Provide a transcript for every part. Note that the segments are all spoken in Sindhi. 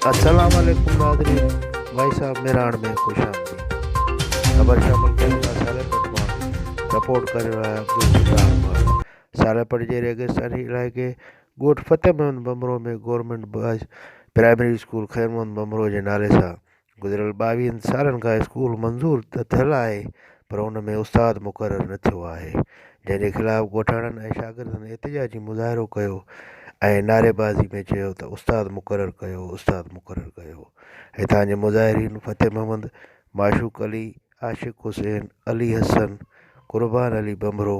السلام عليڪم ناظرين ڀائي صاحب ميراڻ ۾ خوش آمديد خبر شامل ڪري ٿا ساري پٽ مان رپورٽ ڪري رهيا آهيان عبدالستار مان ساري پٽ جي ريگستاني علائقي ڳوٺ Fateh Muhammad Bhambhro ۾ government boys primary school Khair Muhammad Bhambhro جي نالي سان گذريل ٻاويهن سالن کان اسڪول منظور ته ٿيل آهي پر ان ۾ استاد مقرر نه ٿيو آهي جنهن جي خلاف ڳوٺاڻن ۽ شاگردن احتجاجي مظاهرو ڪيو ۽ نعريبازي ۾ چيو ته استاد مقرر ڪيو استاد مقرر ڪيو هتان جي مظاهرين فتح محمد معشوق علي عاشق حسين علي حسن قربان علي ڀنڀرو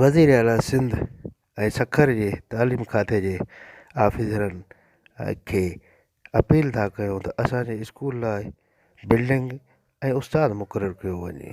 وزير اعلٰي سنڌ ۽ سکر جي تعليم کاتي جي آفيسرن کي اپيل ٿا ڪيون ته اسانجي اسڪول لاء بلڊنگ ۽ استاد مقرر ڪيو وڃي